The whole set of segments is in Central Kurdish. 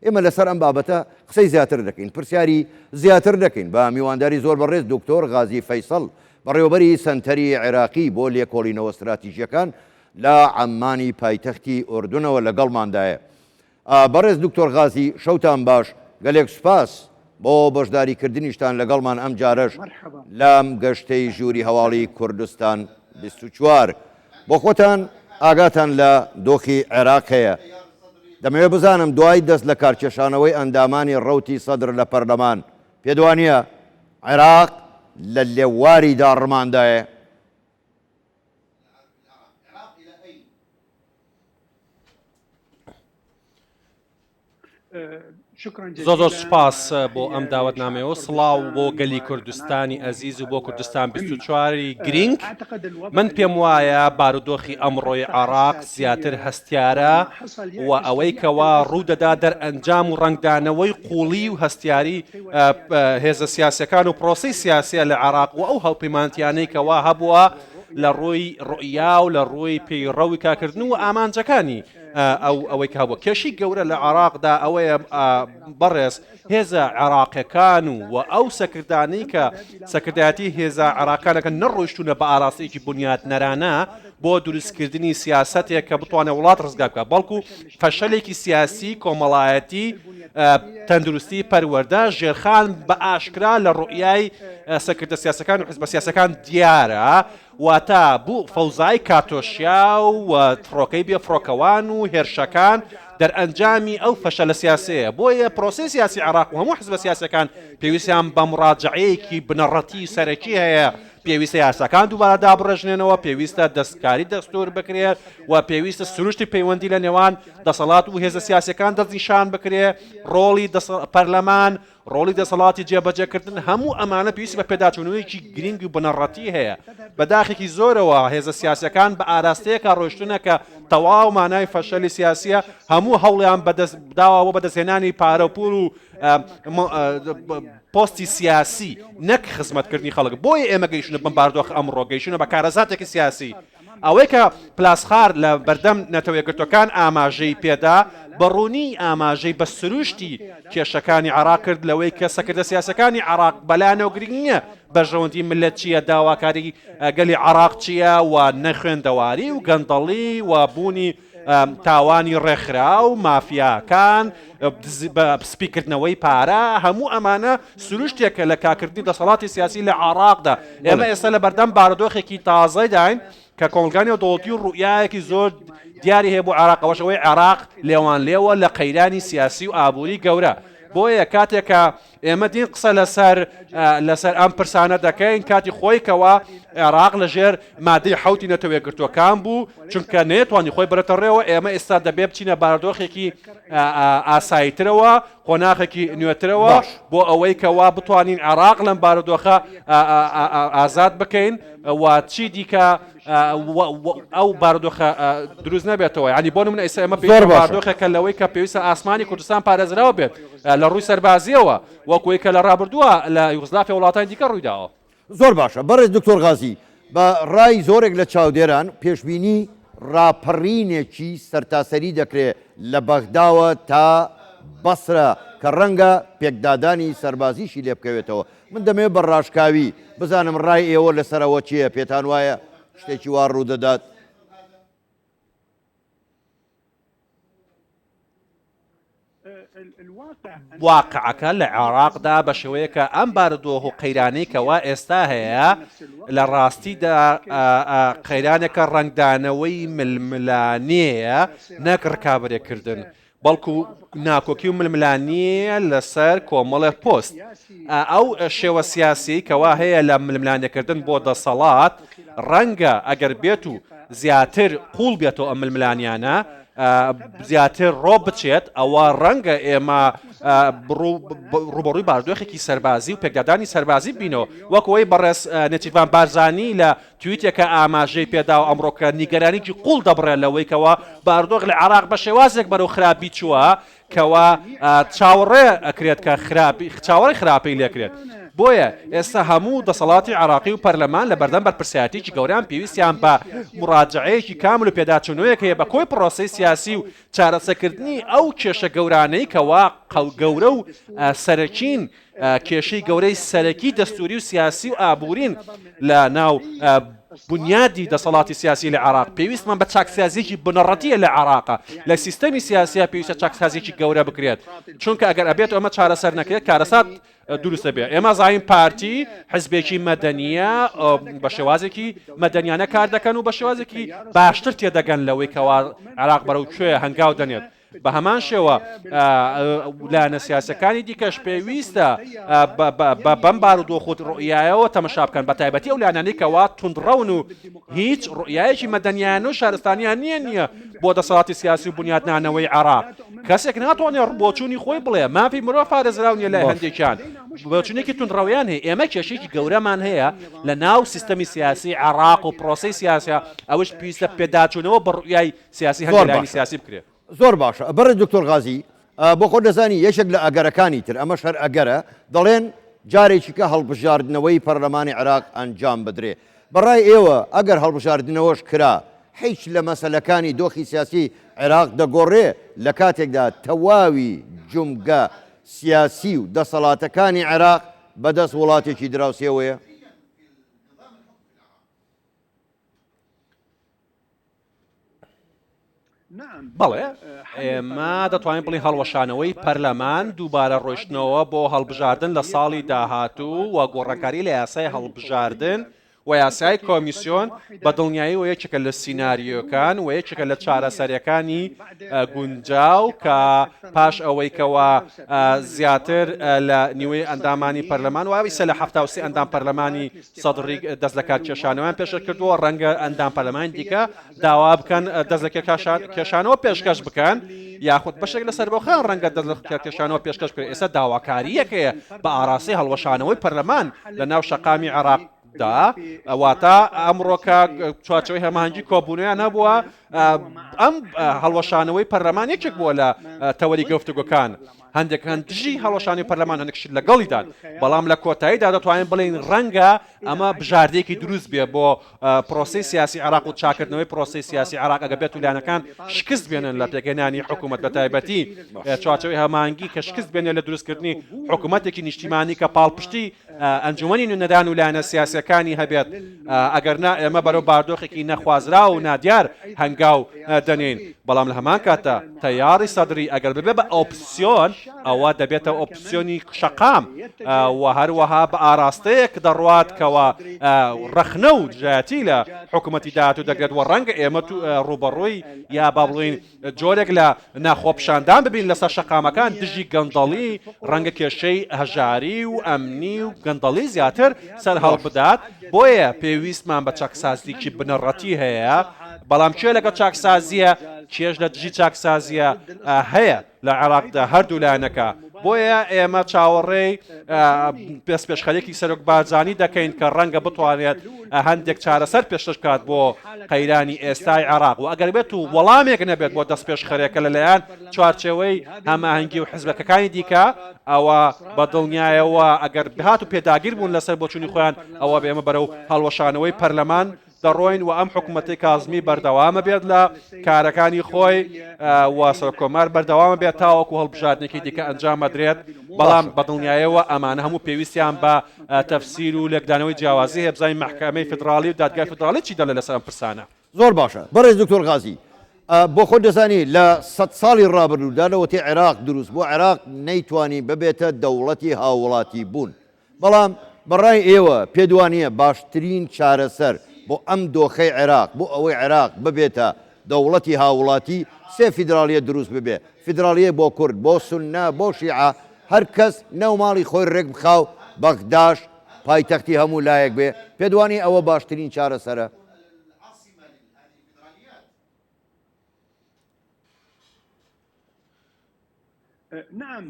ئێمە لەسەر ئەم بابەتە قسەی زیاتر دەکەین، پرسیاری زیاتر دەکەین بە میوانداری زۆر بەڕێز دکتۆر غازی فەیسەڵ، بەڕێوەبەری سەنتەری عێراقی بۆ لێکۆڵینەوە ستراتیژییەکان لە عەممانی پایتەختی ئوردنەوە لەگەڵماندایە. بەڕێز دکتۆر غازی، شەوتان باش، گەلێک سوپاس بۆ بەشداریکردنیشتان لەگەڵمان ئەمجارەش لەم گەشتەی ژووری هەواڵی کوردستان بیست و چوار. بۆ خۆتان ئاگاتان لە دۆخی عێراق هەیە، دەمەوێت بزانم دوای دەست لەکارکێشانەوەی ئەندامانی ڕەوتی سەدر لە پەرلەمان، پێت وانییە عێراق لە لێواری داڕماندایە؟ زۆ زۆر سوپاس بۆ ئەم داوت نامەوە سڵاو بۆ گەلی کوردستانی ئەزیز و بۆ کوردستان 24واری گرینگ من پێم وایە بارودۆخی ئەمڕۆی عراق زیاتر هەستیارە و ئەوەی کەوا ڕوودەدا دەر ئەنجام و ڕنگدانەوەی قوڵی و هەستیاری هێزە سیاسەکان و پرۆسی سیاسە لە عراق و ئەو هەڵپیمانتیانەی کەوا هەبووە لە ڕووی ڕئیا و لە ڕووی پێی ڕەوی کاکردن و ئامانجەکانی ئەو ئەوەی کە هەبووە. کێشەی گەورە لە عێراقدا ئەوەیە بەڕێز هێزە عێراقیەکان و و ئەو سەکردانەی کە سەکردایەتی هێزە عێراقانەکە نەڕۆیشتونە بە ئاراستەیەکی بنیاتنەرانە بۆ دروستکردنی سیاسەتێک کە بتوانێت وڵات ڕزگار بکە بەڵکو فەشەلێکی سیاسی کۆمەڵایەتی تەندروستی پەروەەردە ژێرخان بە ئاشکرا لە ڕوئای سەکردە سیاسەکان و حزب سیاسەکان دیارە واتە بو فەوزای کاتۆشیا و فڕۆکەی بێ فڕۆکەوان و هێرشەکان دەرئەنجامی ئەو فەشەلە سیاسەیە. بۆیە پرۆسەی سیاسی عێراق و هەمو حزبە سیاسیەکان پێویستیان بە مڕاجەعەیەکی بنەڕەتی و سەرەکی هەیە، پێویستە یاساکان دوبارە دابڕێژرێنەوە، پێویستە دەستکاری دەستور بکرێت و پێویستە سروشتی پەیوەندی لە نێوان دەسەڵات و هێزە سیاسیەکان دەستنیشان بکرێت، ڕۆڵی پەرلەمان، ڕۆڵی دەسەڵاتی جێبەجێکردن هەموو ئەمانە پێویستی بە پێداچوونەوەیەکی گرنگ و بنەڕەتی هەیە بە داخێکی زۆرەوە هێزە سیاسەکان بە ئاراستەیەکە ڕۆشتنە کە تەواو مانای فەشەلی سیاسیە هەموو هەوڵیان بەدەست بداوە بۆ بەدەستهێنانی پارە و پول و پۆستی سیاسی نەک خزمەتکردنی خەڵک بۆیە ئێمە گەیشتە بمباردۆخ ئەمڕۆ گەیشتە بە کارەساتێکی سیاسی ئەوەی کە پلاسخارت لە بەردەم نەتەوەیەکگرتووەکان ئاماژەی پێدا، بە ڕوونی ئاماژەی بە سروشتی کێشەکانی عێراق کرد لەوەی کە سەکردە سیاسیەکانی عێراق بەلایانەوە گرنگ نییە بەرژەوەندی ملت چییە، داواکاری گەلی عێراق چییە و نەخوێندەواری و گەندەڵی و بوونی تاوانی ڕێکخراو، مافیاکان، سپیکردنەوەی پارە، هەموو ئەمانە سروشتێکە لە کاکردنی دەسەڵاتی سیاسی لە عێڕاقدا. ئێمە ئێستا لە بەردەم بارودۆخێکی تازەداین کە کۆمەڵگای نێودەوڵەتی و ڕوئیایەکی زۆر دیاری هەیە بۆ عێڕاق، ئەوەش ئەوەی عێڕاق لێوانلێوە لە قەیرانی سیاسی و ئابووری گەورە. بۆیە کاتێک کە ئێمە دین قسە لەسەر لەسەر ئەم پرسانە دەکەین کاتی خۆی کەوا عێراق لەژێر مادەی حوتی نەتەوەیەگرتوەکان بوو چونکە نێتوانی خۆی بەرەتە ڕێەوە ئێمە ئێستا دەبێ بچینە بارادۆخێکی ئاساییترەوە قۆناخێکی نوێترەوە بۆ ئەوەی کەوا بتوانین عێراق لەم بارودۆخە ئازاد بکەین و چی دیکە ئەو بارودۆخە دروست نەبێتەوە یعنی بۆ نمونە ئیسە ئێمە پێویستە بارودۆخێکە لەوەی کە پێویستە ئاسمانی کوردستان پارێزراو بێت لە ڕووی سەربازیەوە وەکوی کە لە ڕابردووە لە یوگزلافی وڵاتانی دیکە ڕوویداوە زۆر باشە بەڕێز دکتۆر غازی بە ڕای زۆرێک لە چاودێران پێشبینی ڕاپەڕینێکی سەرتاسەری دەکرێت لە بەغداوە تا بەسرە کە ڕەنگە پێکدادانی سەربازیشی لێبکەوێتەوە من دەمەوێت بە ڕاشکاوی بزانم ڕای ئێوە لەسەر ئەوە چییە، پێتان وایە شتێکی وا ڕوودەدات؟ واقعەکە لە عێراقدا بە شێوەیەکە ئەم بارودۆخ و قەیرانەی کەوا ئێستا هەیە لە ڕاستیدا قەیرانێکە ڕنگدانەوەی ململانەیە نەک ڕکابرێکردن بەڵکو ناکۆکی و ململانیە لەسەر کۆمەڵێ پۆست. ئەو شێوە سیاسیەی کەوا هەیە لە ململانێکردن بۆ دەسەڵات، ڕەنگە ئەگەر بێت و زیاتر قوڵ بێتەوە ئەم ململانیانە، زیاتر ڕۆ بچێت، ئەوا ڕەنگە ئێمە ڕووبەڕووی باردۆخێکی سەربازی و پێکدادانی سەربازی ببینەوە، وەک ئەوەی بەڕێز نێچیرڤان بارزانی لە تویتێکە ئاماژەی پێداوە ئەمڕۆکە نیگەرانیی قووڵ دەبڕێت لەوەی کەوا بارودۆخ لە عێراق بە شێوازێک بەرەو خراپی چووە کەوا چاوەڕێ ئەکرێت کە خراپی چاوەڕێی خراپی لێکرێت. بۆیە ئێستا هەموو دەسەڵاتی عێراقی و پەرلەمان لە بەردەم بەرپرسیارەتیەکی گەورەن پێویستیان بە مڕاجەعەیەکی کامل و پێداچوونەوەیەک هەیە بە کۆی پڕۆسەی سیاسی و چارەسەکردنی ئەو کێشە گەورانەی کەوا قەو گەورە و سەرەکین کێشەی گەورەی سەرەکی دەستووری و سیاسی و ئابوورین لە ناو بنیادی دەسەڵاتی سیاسی لە عێراق پێویستمان بە چاکسازیەکی بنەڕەتیە لە عێراقا لە سیستەمی سیاسیا پێویستە چاکسازیەکی گەورە بکرێت چونکە ئەگەر ئەبێت ئەمە چارەسەر نەکرێت کارەسات دروستە بێ ئێمە زانین پارتی حزبێکی مەدەنیە بە شێوازێکی مەدەنیانە کار دەکەن و بە شێوازێکی باشتر تێدەگەن لەوەی کەوا عراق بەرەو کوێ هەنگاو دەنێت بە هەمان شێوە لایەنە سیاسیەکانی دیکەش پێویستە بەم بارودۆخ و ڕۆیایەوە تەمەشا بکەن بە تایبەتی ئەو لایەنانەی کەوا توندڕەون و هیچ ڕۆیایەکی مەدەنیان و شارستانیان نییە نییە بۆ دەسەڵاتی سیاسی و بنیاتنانەوەی عراق کەسێک ناتوانێت ڕبۆچوونی خۆی بڵێ مافی مرۆ پارێزراو نیە لای هەندێکیان بۆچونێکی تونڕەویان هەیە ئێمە کێشێکی گەورەمان هەیە لە ناو سیستەمی سیاسی عراق و پرۆسی سیاسە ئەوش پێویستە پێداچوونەوە بە ڕویای سیاسی هەندێ زۆر لایەنی باشە سیاسی بکرێ. زۆر باشە بەڕێز دکتۆر غازی بۆ خۆت دەزانی یەکێک لە ئەگەرەکانی تر ئەمەش هەر ئەگەرە دەڵێن جارێکیکە هەڵبژاردنەوەی پەرلەمانی عێراق ئەنجام بدرێ بەڕای ئێوە ئەگەر هەڵبژاردنەوەش کرا هیچ لە مەسەلەکانی دۆخی سیاسی عێراق دەگۆڕێ لە کاتێکدا تەواوی جومگە سیاسی و دەسەڵاتەکانی عێراق بەدەست وڵاتێکی دراوسێوەیە؟ بەڵێ ئێمە دەتوانین بڵی هەڵوەشانەوەی پەرلەمان دووبارە ڕۆشتنەوە بۆ هەڵبژاردن لە ساڵی داهاتوو و گۆڕانکاری لە یاسای هەڵبژاردن و یاسای کۆمیسیۆن بە دڵنیایی و یەکێکە لە سینناریۆکان و یەکێکە لە چارەسەرەکانی گونجاو کە پاش ئەوەیکەوە زیاتر لە نیوەی ئەندامانی پەرلەمان و ئەویسە لە هەفتاوسی ئەندام پەرلەمانی سەدڕی دەست لە کار کێشانەوەیان پێشکەش کردووە، ڕەنگە ئەندام پەرلەمانی دیکە داوا بکەن دەست لە کێشانەوە پێشکەش بکەن، یاخود بەشێک لە سەربەخۆیان ڕەنگە دەست لە کێشانەوە پێشکەش بکەن، ئێستا داواکارییەک هەیە بە ئاراستەی هەڵوەشانەوەی پەرلەمان لە ناو شەقامی عێراق. دا ئەواتە ئەمڕۆکە چوارچەوەی هەمانجی کۆبوونیان هەبووە ئەم هەڵوەشانەوەی پەرلەمان یەکێک بووە لە تەوەری گەفتوگۆکان هەندێکان دژی هەڵوەشانی پەرلەمان هەنکشت لەگەڵیدان، بەڵام لە کۆتاییدا دەتوانین بڵێین رەنگە ئەمە بژاردەیەکی دروست بێ بۆ پرۆسەی سیاسی عێراق و چاکردنەوەی پرۆسەی سیاسی عێراق ئەگەر بێتو لایەنەکان شکست بێنن لە پێکهێنانی حکومەت بەتایبەتی چوارچێوەی هەماهەنگی کە شکست بێنێ لە دروستکردنی حکومەتێکی نیشتیمانی کە پاڵپشتی ئەنجومەنی نوێنەران و لایەنە سیاسییەکانی هەبێت، ئەگەرنا ئێمە بەرەو باردۆخێکی نەخوازراو و نادیار هەنگاو دەنێین، بەڵام لە هەمان کاتدا تەیاری سەدری ئەگەر ببێت بە ئۆپسیۆن، ئەوا دەبێتە ئۆپسیۆنی شەقام و هەروەها بە ئاراستەیەک دەڕوات کەوا ڕەخنە و دژایەتی لە حکوومەتی داهاتوو دەگرێت و ڕەنگە ئێمە ڕووبەڕووی یا با بڵێین جۆرێک لە نا خۆپیشاندان ببین لەسەر شەقامەکان دژی گەندەڵی ڕەنگە کێشەی هەژاری و ئەمنی و گەندەڵی زیاتر سەرهەڵبدات بۆیە پێویستمان بە چاکسازیکی بنەڕەتی هەیە بەڵام کێ لەگەڵ چاکسازیە کێش لە دژی چاکسازیە هەیە لە عێراقدا هەردوو لایەنەکە بۆیە ئێمە چاوەڕێی پێسپێشخەرێکی سەرۆک بارزانانی دەکەین کە ڕەنگە بتوانێت هەندێک چارەسەر پێشش کات بۆ قەیرانی ئێستای عراق و ئەگەر بێت و وەڵامێک نەبێت بۆ دەست پێشخەرێکە لەلایەن چوارچەوەی هەماهنگگی و حزبەکەەکانی دیکە ئەوە بە دڵنیایەوە ئەگەر بهات و پێداگیر بوون لەسەر بۆچوونی خۆیان ئەوە بێمە بەرە و هەڵوەشانەوەی پەرلەمان دەڕۆین و ئەم حکومەتی کازمی بەردەوامە بێت لە کارەکانی خۆی و سەر کۆمار بەردەوامە بێت تاوەکو هەڵبژاردنێکی دیکە ئەنجام مەدرێت بەڵام بەدڵنیایەوە ئەمانە هەموو پێویستیان بە تەفسیر و لێکدانەوەی جیاوازی هێبزای محکمەی فدراڵی و دادگای فدراڵی چی دەڵێ لەسەر ئەم پرسانە زۆر باشە بەڕێز دکتۆر غازی بۆ خۆ دەزانی لە سەد ساڵی ڕابردوودا لەوەتی عێراق دروست بۆ عێراق نەیتوانی ببێتە دەوڵەتی هاوڵاتی بوون بەڵام بەڕای ئێوە پێت وانیە باشترین چارەسەر بۆ ئەم دۆخەی عێراق بۆ ئەوەی عێراق ببێتە دەوڵەتی هاووڵاتی سێ فیدراڵیەت دروست ببێ فیدراڵیەک بۆ کورد بۆ سوننە بۆ شیعە هەر کەس ناو ماڵی خۆی ڕێک بخا و بەغداش پایتەختی هەموو لایەک بێ پێت وانیە ئەوە باشترین چارەسەرە؟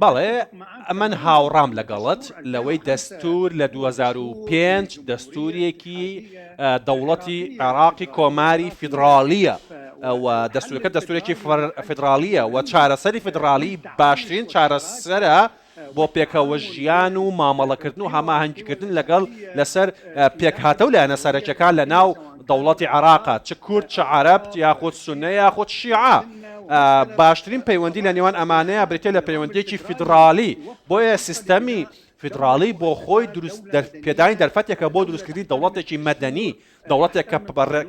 بەڵێ ئەمن هاوڕام لەگەڵت لەوەی دەستور لە 2005 دەستورێکی دەوڵەتی عێراقی کۆماری فیدراالیە و دەستورەکە دەستورێکی فدراالیە و چارەسەری فدراالی باشترین چارەسەرە بۆ پێکەوەژیان و مامەڵەکردن و هەماهەنگیکردن لەگەڵ لەسەر پێکهاتە و لایەنە سەرەکیەکان لەناو دەوڵەتی عێراقە، چ کورد، چ عەرەب، یاخود سوننە یاخود شیعە. باشترین پەیوەندی لە نێوان ئەمانەیا بریتیە لە پەیوەندیەکی فیدراڵی، بۆیە سیستەمی فیدراڵی بۆ خۆی دروست پێدانی دەرفەتێکە بۆ دروستکردنی دەوڵەتێکی مەدەنی دەوڵەتێک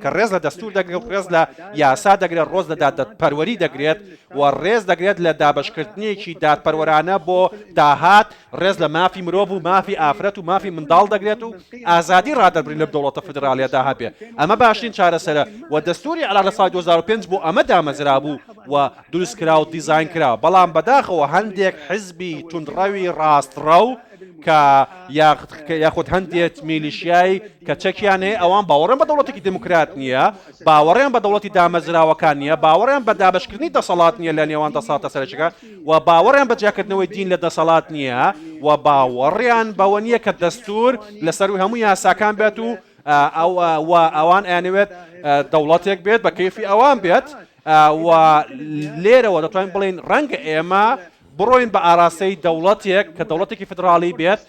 کە ڕێز لە دەستوور دەگرێت و ڕێز لە یاسا دەگرێت، ڕۆز لە دادپەروەری دەگرێت و ڕێز دەگرێت لە دابەشکردنێکی دادپەروەرانە بۆ داهات، ڕێز لە مافی مرۆڤ و مافی ئافرەت و مافی منداڵ دەگرێت و ئازادی ڕادەربڕین لەم دەوڵەتە فیدراڵیەدا هەبێت، ئەمە باشترین چارەسەرە و دەستووری عێراق لە ساڵی دوو هەزار و پێنج بۆ ئەمە دامەزرابوو و دروستکرا و دیزاینکرا، بەڵام بەداخەوە هەندێک حزبی توندڕەوی ڕاستڕەو کە یاخود هەندێک میلیشیای کە چەکیان هەیە ئەوان باوەڕیان بە دەوڵەتێکی دێموکرات نییە، باوەڕیان بە دەوڵەتی دامەزراوەکان نییە، باوەڕیان بە دابەشکردنی دەسەڵات نییە لە نێوان دەسەڵاتە سەرەکیەکان و باوەڕیان بە جیاکردنەوەی دین لە دەسەڵات نییە و باوەڕیان بەوە نییە کە دەستوور لە سەرووی هەموو یاساکان بێت و ئەوان ئەیانەوێت دەوڵەتێک بێت بە کەیفی ئەوان بێت و لێرەوە دەتوانین بڵێین ڕەنگە ئێمە بڕۆین بە ئاراستەی دەوڵەتێک کە دەوڵەتێکی فدراڵی بێت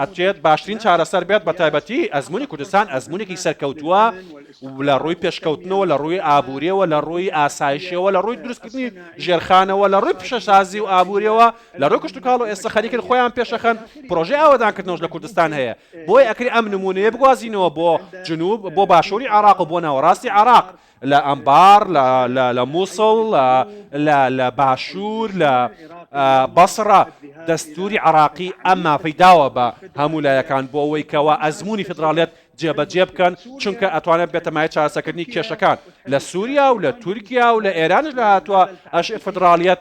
ئەچێت باشترین چارەسەر بێت بە تایبەتی ئەزمموی کوردستان ئەزمونێکی سەرکەوتووە لە ڕووی پێشکەوتنەوە لە ڕووی ئابووریەوە لە ڕووی ئاسایشەوە لە ڕووی دروستکردنی ژێرخانەوە لە ڕووی پیشەسازی و ئابووریەوە لە ڕوو کشت و کاڵ و ئێستا خەریکن خۆیان پێشەخەن پرۆژه ئاوادانکردنەوەش لە کوردستان هەیە بۆی ئەکری ئەم نمونەیە بگوازینەوە بۆ جنوب بۆ باشووری عراق و بۆ ناوەڕاستی عراق لە ئەنبار، لە لە لە موسڵ، لە لە لە باشوور، لە ئە بەسڕە. دەستووری عێڕاقی ئەم مافەی داوە بە هەموو لایەکان بۆ ئەوەی کەوا ئەزموونی فیدڕاڵیەت جێبەجێ بکەن، چونکە ئەتوانێت ببێتە مایەی چارەسەکردنی کێشەکان. لە سووریا و لە تورکیا و لە ئێرانیش لە هاتووە ئەش فیدڕاڵیەت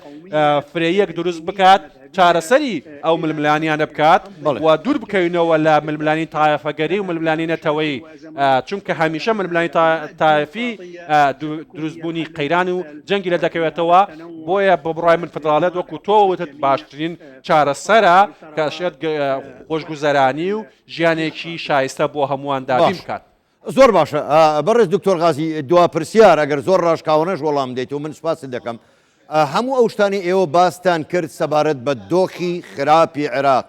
فرەییەک دروست بکات، چارەسەری ئەو ململانیانە بکات و دوور بکەوینەوە لە ململانی تایەفەگەری و ململانی نەتەوەیی چونکە هەمیشە ململانی تایەفی دروستبوونی قەیران و جەنگی لە دەکەوێتەوە بۆیە بە بڕای من فدراڵێت وەکو تۆ وتت باشترین چارەسەرە کە شێت خۆشگوزەرانی و ژیانێکی شایستە بۆ هەمووان دابین بکات. زۆر باشە بەڕێز دکتۆر غازی دوا پرسیار ئەگەر زۆر ڕاشکاوەنەش وەڵام دێت و من سپاست دەکەم هەموو ئەو شتانی ئێوە باستان کرد سەبارەت بە دۆخی خراپی عێراق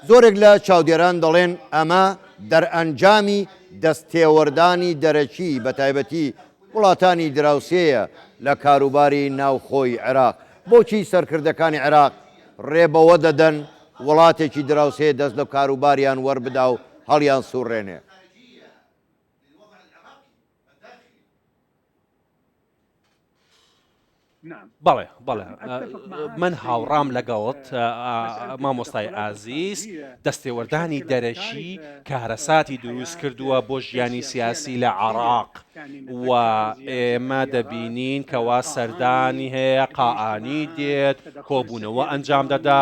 زۆرێک لە چاودێران دەڵێن ئەمە دەرئەنجامی دەست تێوەردانی دەرەکی بە تایبەتی وڵاتانی دراوسێیە لە کاروباری ناوخۆی عێراق بۆچی سەرکردەکانی عێراق ڕێ بەوە دەدەن وڵاتێکی دراوسێ دەست لە کاروباریان وەربدا و هەڵیان سوڕێنێ هی للوضع العراقی الداخلی. بەڵێ بەڵێ من هاوڕام لەگەڵت مامۆستای ئازیز دەستێوەردانی دەرەکی کارەساتی دروست کردووە بۆ ژیانی سیاسی لە عراق و ئێمە دەبینین کەوا سەردانی هەیە قائانی دێت کۆبوونەوە ئەنجام دەدا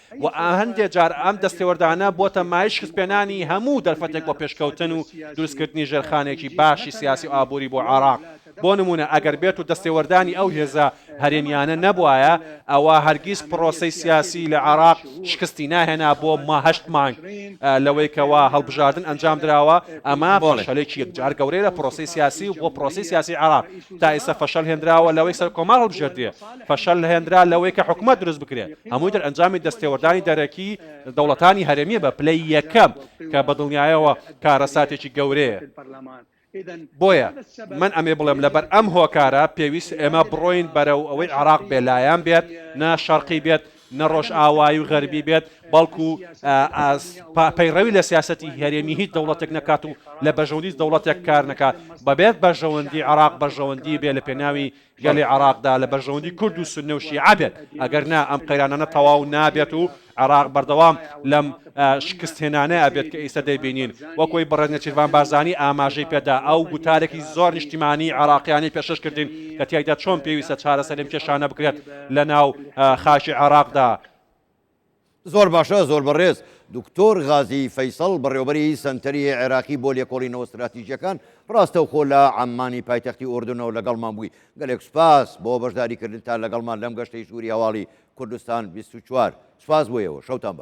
و هەندێ جار ئەم دەستێوەردانە بۆتە مایەی شکستپێنانی هەموو دەرفەتێک بۆ پێشکەوتن و دروستکردنی ژێرخانێکی باشی سیاسی و ئابووری بۆ عێراق، بۆ نموونە ئەگەر بێت و دەستێوەردانی ئەو هێزە هەرێمیانە نەبوایە ئەوا هەرگیز پڕۆسەی سیاسی لە عێراق شکستی ناهێنا بۆ ما هەشت مانگ لەوەی کەوا هەڵبژاردن ئەنجامدراوە ئەمە فەشەلێکی یەکجار گەورەیە لە پڕۆسەی سیاسی و بۆ پڕۆسەی سیاسی عێراق تا ئیستا فەشەل هێنراوە لەوەی سەرکۆمار هەڵبژێردرێ فەشەل هێنرا لەوەی کە حکومەت دروست بکرێت، هەمووی دەرئەنجامی دەستێوەردانی دەرەکی دەوڵەتانی هەرێمییە بە پلەی یەکەم، کە بە دڵنیایەوە کارەساتێکی گەورەیە. بۆیە من ئەمەی بڵێم، لەبەر ئەم هۆکارە پێویستە ئێمە بڕۆین بەرەو ئەوەی عێراق بێ لایەن بێت، نە شەرقی بێت، نە ڕۆژئاوایی و غەربی بێت، بەڵکو پەیڕەوی لە سیاسەتی هەرێمی هیچ دەوڵەتێک نەکات و لە بەژەوەندی دەوڵەتێک کار نەکات، بەبێت بەرژەوەندی عێراق بەرژەوەندی بێ لە پێناوی گەلی عێراقدا لە بەرژەوەندی کورد و سوننە و شیعە بێت، ئەگەر نا ئەم قەیرانانە تەواو نابێت و عێراق بەردەوام لەم شکستهێنانە ئەبێت کە ئیستە دەیبینین. وەک وەی بەڕێز نێچیرڤان بارزانی ئاماژەی پێدا، ئەو گوتارێکی زۆر نیشتیمانیی عێراقییانەی پێشکەش کردین کە تیایدا چۆن پێویستە چارەسەری ئەم کێشانە بکرێت لەناو خاکی عێراقدا، زۆر باشە زۆر بەڕێز. دکتۆر غازی فەیسەڵ بەڕێوەبەری سەنتەری عێراقی بۆ لێکۆڵینەوە ستراتیژیەکان ڕاستەوخۆ لە عەممانی پایتەختی ئوردنەوە لەگەڵمان بووی. گەلێک سوپاس بۆ بەشداریکردنتان لەگەڵمان لەم گەشتەی ژووری هەواڵی کوردستان بیست و چوار. سوپاس بۆ ئێوە. شەوتان باش.